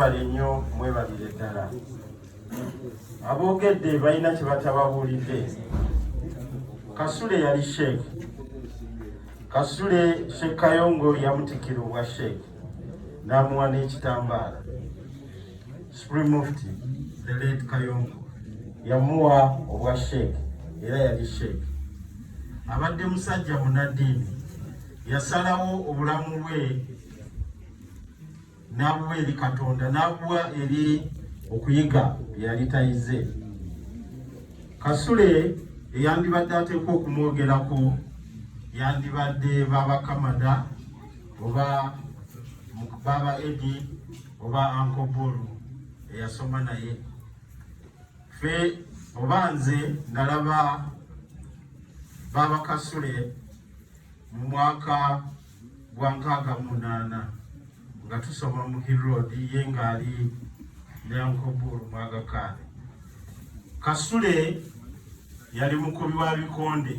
bale nnyo mwebalire ddala aboogedde balina kye batababuulidde kasule yali sheekh kasule sheekh kayongo yamutikira obwa sheekh n'amuwa n'ekitambaala supreme mufti the late kayongo yamuwa obwa sheekh era yali sheekh abadde musajja munaddiini yasalawo obulamu bwe n'abuwa eri Katonda n'abuwa eri okuyiga bye yali tayize. Kasule eyandibadde ateekwa okumwogerako yandibadde Baba Kamada oba Baba Edi oba Uncle Bull eyasoma naye fe oba nze nalaba Baba Kasule mu mwaka gwa nkaaga mu munaana nga tusoma mu hiroodi ye ng'ali ne ankoburu mwagakaale kasule yali mukubi wa bikonde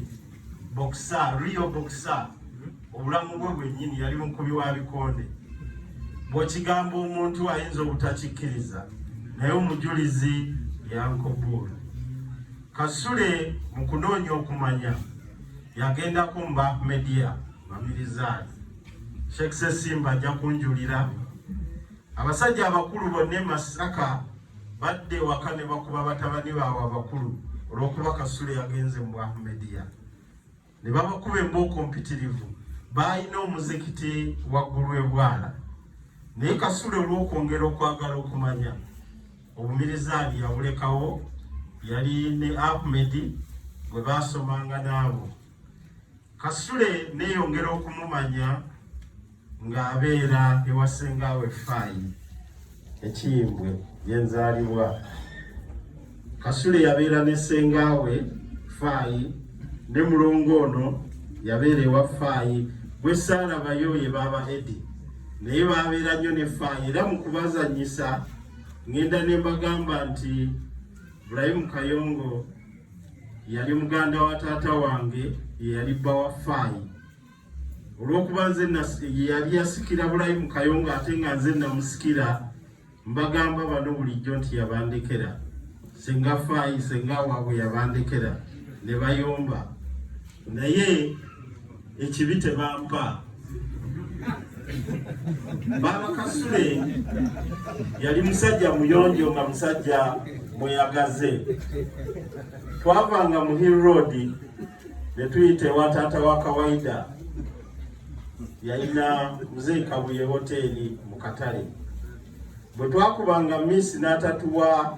bokisa rio bokisa obulamu bwe bwennyini yali mukubi wa bikonde bw'okigambo omuntu ayinza obutakikkiriza naye omujulizi yankoburu kasule mu kunoonya okumanya yagendako mu bahmedia Mamirizani Sheikh Sesimba ajja kunjulira abasajja abakulu bonna e Masaka badde ewaka ne bakuba batabani baabwe abakulu olw'okuba Kasule yagenze mu Ahmediya ne babakuba embooko mpitirivu. Baalina omuzikiti waggulu e Bwala naye Kasule olw'okwongera okwagala okumanya obumirizaani yabulekawo yali ne Ahmed gwe baasomanga naabo. Kasule neyongera okumumanya ng'abeera ewa ssengaawe Faayi Ekiyimbwe gye nzaalibwa. Kasule yabeera ne ssengaawe Faayi ne mulongo ono yabeera ewa Faayi gwe saalabayo ye baaba Edi naye baabeera nnyo ne Faayi era mu kubazannyisa ng'enda ne mbagamba nti Ibrahim Kayongo yali muganda wa taata wange yeyali bba wa faayi olwokuba nze yeyali yasikira bulayi mu kayonga ate nga nze namusikira mbagamba bano bulijjo nti yabandekera senga faayi senga waabwe yabandekera ne bayomba naye ekibi tebampa baaba kasule yali musajja muyonjo nga musajja mweyagaze twavanga mu hill road netuyita ewa taata wa kawaida yalina mzee kabuye hoteeri mu katale bwe twakubanga miss n'atatuwa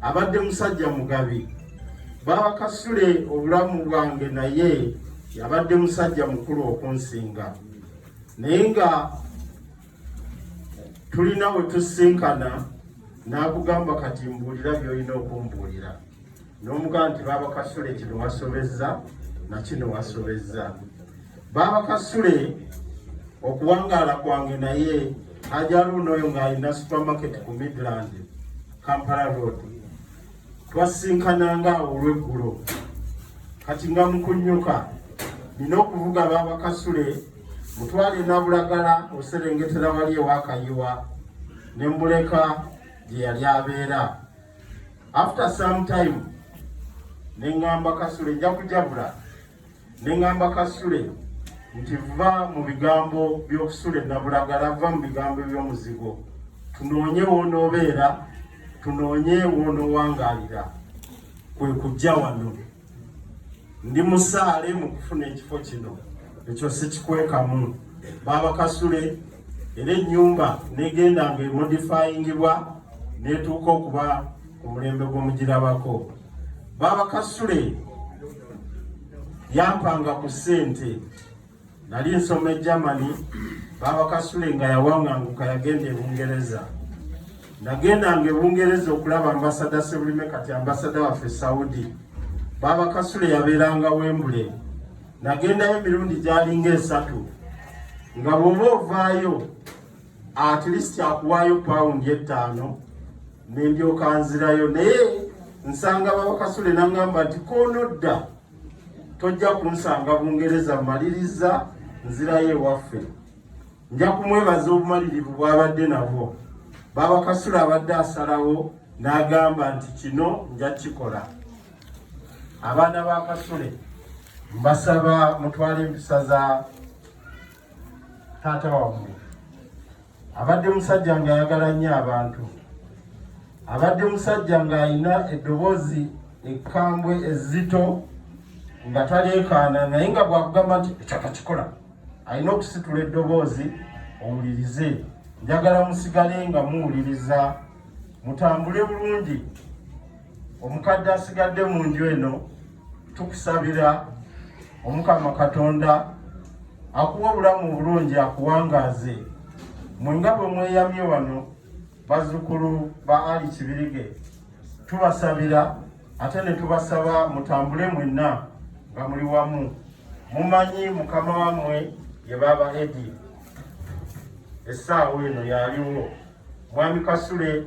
abadde musajja mugabi baakasule obulamu bwange naye yabadde musajja mukulu okunsinga naye nga tulina we tusinkana n'akugamba kati mbuulira by'olina okumbuulira n'omugaa nti baaba kasule kino wasobezza nakino wasobezza baaba kasule okuwangaala kwange naye ajaluuno oyo ng'alina supermarket ku midland kampala road twasinkananga awo olweggulo kati nga mukunyuka nina okuvuga baaba kasule mutwale nabulagala oserengetera wali ewakayiwa ne mbuleka gye yali abeera after some time nengamba kasule nja kujabula nengamba kasule nti va mu bigambo byokusula enabulagala va mu bigambo byomuzigo tunoonye wonoobeera tunoonye wonowangalira kwe kujja wano ndi musaale mu kufuna ekifo kino ekyo sikikwekamu baaba kasule era ennyumba negenda nga emodifayingibwa netuuka okuba ku mulembe gw'omugirabako baaba kasule yampanga ku ssente nali nsoma e Germany baaba Kasule nga yawanganguka yagenda e Bungereza nagendanga e Bungereza okulaba ambasada Sebulime kati ambasada waffe Saudi baaba Kasule yabeeranga Wembule nagendayo emirundi gyalinga esatu nga bwoba ovaayo at least akuwaayo pawundi ettaano nendyoka nzirayo naye nsanga baaba Kasule nangamba nti konodda tojja kunsanga bungereza mmaliriza nzirayo ewaffe nja kumwebaza obumalirivu bwabadde nabwo babakasula abadde asalawo n'agamba nti kino nja kikola abaana ba kasule mbasaba mutwale empisa za taata wammwe abadde musajja ng'ayagala nnyo abantu abadde musajja ng'alina eddoboozi ekkambwe ezzito nga taleekaana naye nga bwakugamba nti ekyaka kikola alina okusitula eddoboozi owulirize njagala musigale nga muwuliriza mutambule bulungi omukadde asigadde mu nju eno tukusabira omukama katonda akuwa obulamu obulungi akuwangaaze mwe nga bwe mweyamye wano bazzukulu ba ali kibirige tubasabira ate ne tubasaba mutambule mwenna nga muli wamu mumanyi mukama wammwe ye baaba edi essaawa eno yaliwo mwami kasule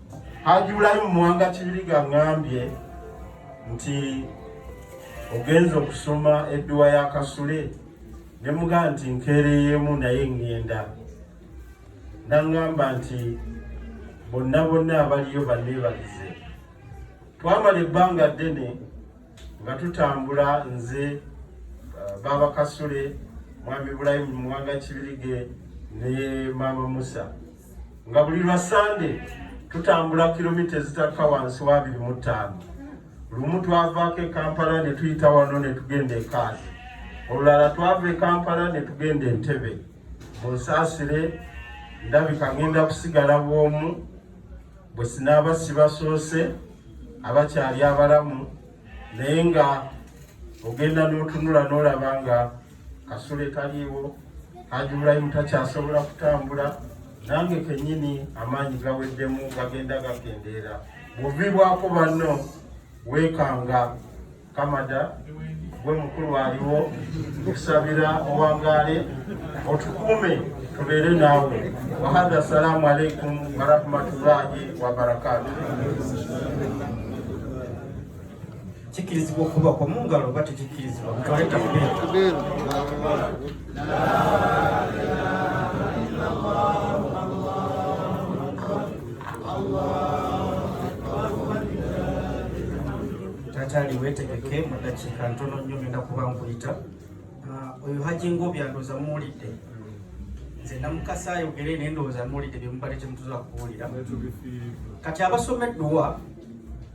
Haji Bulayimu Muwanga Kibiriga ngambye nti ogenza okusoma edduwa ya Kasule ne muga nti nkeereyeemu naye ŋŋenda naŋŋamba nti bonna bonna abaliyo banneebalize twamala ebbanga ddene nga tutambula nze uh, baaba Kasule mwami Bulayimu Muwanga Kibirige ne maama Musa nga buli lwa sande tutambula kilomita ezitakka wansi wa abiri mu ttaano lumu twavaako e kampala ne tuyita wano ne tugenda ekaazi olulala twava e kampala ne tugenda entebe mu nsaasire ndabika ngenda kusigala bwomu bwe sinaaba sibasoose abakyali abalamu naye nga ogenda n'otunula n'olaba nga Kasule kaliiwo, Haji Ibrahim takyasobola kutambula, nange kenyini amaanyi gaweddemu gagenda gakendeera. Bwovibwako banno weekanga kamada gwe mukulu aliwo nkusabira owangaale otukuume tubeere naawe wahadha assalaamu alaikum warahmatullahi wabarakatuh kikkirizibwa okuba kwa mu ngalo oba tekikkirizibwa mutwale takbir taataali weetegeke mu ddakiika ntono nnyo ngenda kuba nkuyita ah, oyo haji ngaobyandoza muwulidde nze namukasa ayogere naye ndowooza muwulidde byemubadde temutuza kubuulira kati abasoma edduwa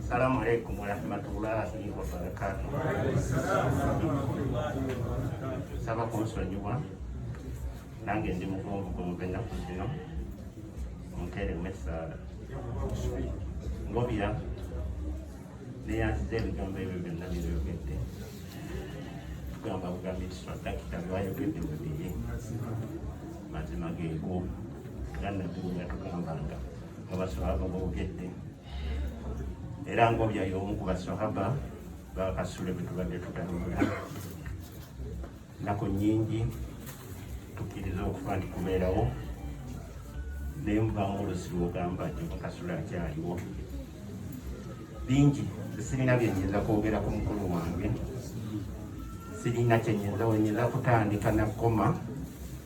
Assalamu alaikum warahmatullahi wabarakatuh. Saba kunsonyiwa nange ndi mugonvu gumuve ennaku zino munteeremu essaala ngobira neyanziza ebigambo ebyo byonna byebyogedde tugamba bugambi nti swadakita byewayogedde mubiri mazima geego era nabbi yatugambanga abasahaba boogedde era ngobya y'omu ku basahaba bakasule bwe tubadde tutambula nnaku nnyingi tukkiriza okufa nti kubeerawo naye mubamu olusi lwogamba nti bakasule akyaliwo bingi sirina byenyinza kwogera ku mukulu wange sirina kyenyinza wenyinza kutandika nakoma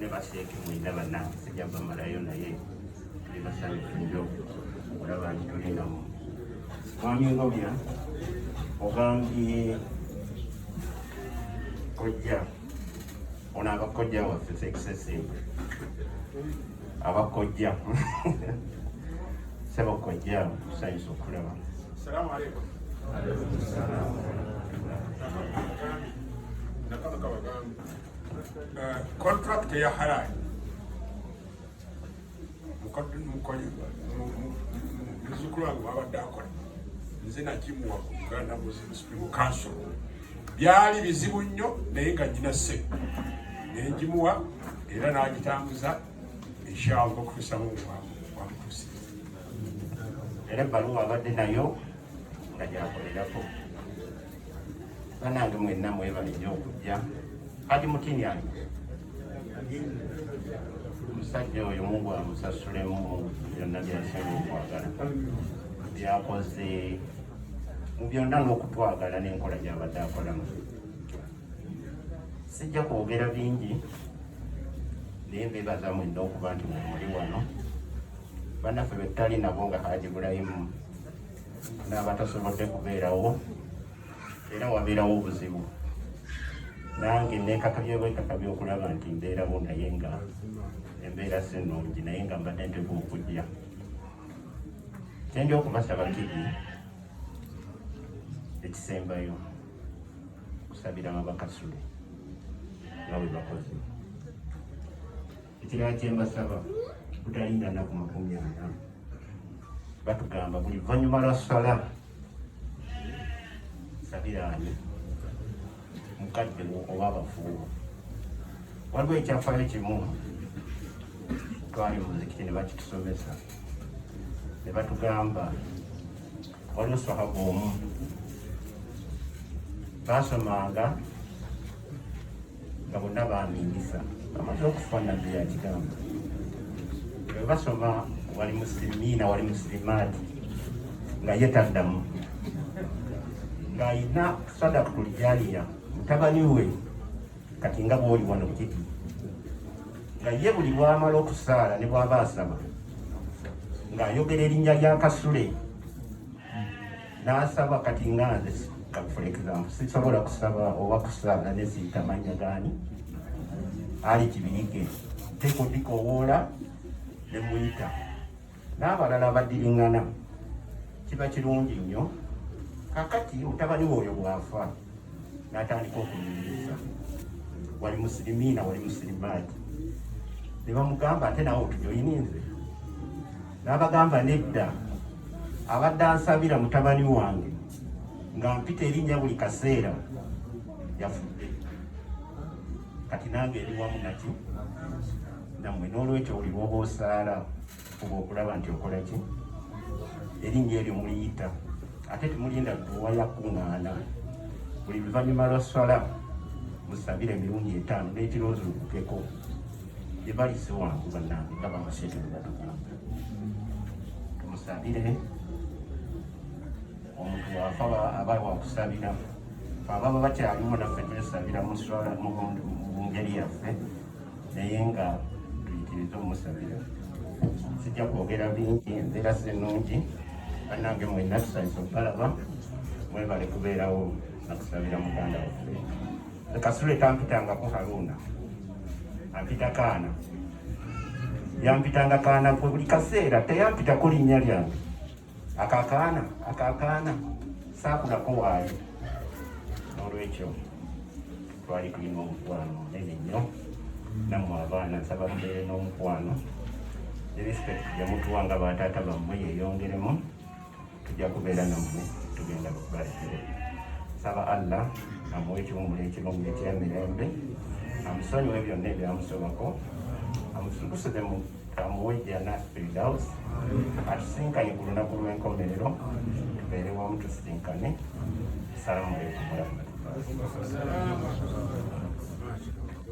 ne basheeke mwenda bana sijja bamalayo naye tuli basanyufu nnyo olaba nti tuli namu mwami ngobya ogambye kojja ono abakojja waffe fekisesente abakojja sebo kojja tusanyusa okulaba salamu aleikum kontrakiti eya haraani muzukulu wange wabadde akola nze nakimuwa ku uganda muslim supreme council byali bizibu nnyo naye nga nyina se nengimuwa era nagitambuza inshallah okutuusamu wamutuusi era ebbaluwa abadde nayo nga gyakolerako banange mwenna mwebale nnyo okujja hadi mutini yange omusajja oyo mungu amusasulemu byonna byasinga okwagala byakoze mu byonna n'okutwagala n'enkola gyabadde akolamu sijja kwogera bingi naye mbebaza mwena okuba nti mwemuli wano banaffe betutali nabo nga haji bulayimu n'abatasobodde kubeerawo era wabeerawo obuzibu nange nekakabye bwekakabye okulaba nti mbeerawo naye nga embeera si nnungi naye nga mbadde nteku okujja kyendya okubasaba kiri ekisembayo kusabira babakasule nga bwe bakozi Ekirala kye mbasaba butalinda nnaku makumi ana batugamba buli luvannyuma lwa sala sabiraani mukadde wo oba abafuubo waliwo ekyafaayo kimu twali mu muzikiti ne bakitusomesa ne batugamba waliwo sahaba omu baasomanga nga bonna baamiinisa amata okufa nabbi yakigamba bwe basoma wali musilimiina wali musilimaati nga ye taddamu ng'alina sadaka kulijaniya mutabani we kati nga bwoli wano kiti nga ye buli bwamala okusaala ne bwaba asaba ng'ayogera erinnya lya kasule n'asaba kati nga nze for example sisobola kusaba oba kusaba ne ziyita mannya gaani ali kibiyige nteeka odikoowoola ne muyita n'abalala abadiringana kiba kirungi nnyo kakati mutabani wooyo bw'afa n'atandika okunyumiriza wali musirimiina wali musirimaati ne bamugamba ate nawe otujoyininze N'abagamba nedda, abadde ansabira mutabani wange nga mpita erinnya buli kaseera yafudde. Kati nange eri wamu naki nammwe, n'olwekyo buli lw'oba osaala fuba okulaba nti okola ki erinnya eryo muliyita ate temulinda dduwa yakuŋŋaana buli luvannyuma lwa swala musabire emirundi etaano n'ekirozulukukeko ebalize wangu banange ndaba amasente bwebatugamba tumusabire omuntu wafa aba wakusabira ababa bakyaliwo naffe twesabira mungeri yaffe naye nga tuyitiriza omusabira sijja kwogera bingi embeera sinungi banange mwena tusanyisa okubalaba mwebale kubeerawo nakusabira muganda waffe Kasule tampitangako Haruna, ampita kaana, yampitanga kaana kwe buli kaseera, teyampitako linnya lyange. Akakaana akakaana saakulako waayo. N'olwekyo twali tulina omukwano munene nnyo nammwe abaana, nsaba mubeere n'omukwano ne respect gye mutuwa nga bataata bammwe yeyongeremu. tujja kubeera nammwe tugenda kubalekere saba allah amuwa ekiwumula ekirungi ekyemirembe amusonyiwe byonna ebyamusobako amusukusire mu amuwe ejjana firdaus atusinkanye ku lunaku lw'enkomerero tubeere wamu tusisinkane salamu aleikum warahmatullahi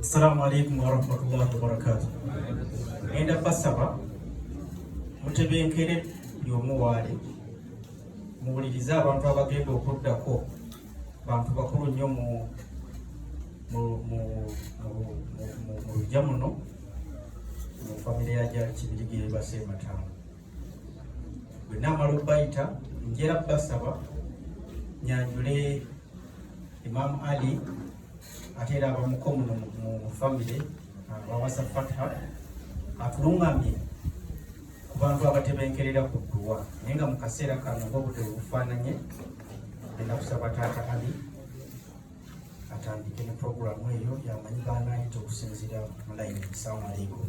Assalamu alaikum warahmatullahi wabarakatuh. Enda basaba mutebenkere buli omu waali muwulirize abantu abagenda okuddako bantu bakulu nnyo mu lujja muno mu famire ya gyali kibirigere baseemataano bwe naamala okubayita njera basaba nyanjule imaamu ali ate era abamuko muno mu famire wawasa fatha atulungamye ku bantu abatebenkerera ku dduwa naye nga mu kaseera kano ngaobudde bufaananye enda kusaba taata ali atandike ne puroguramu eyo yamanyi baanaayita okusinziira mulayini salamu aleikum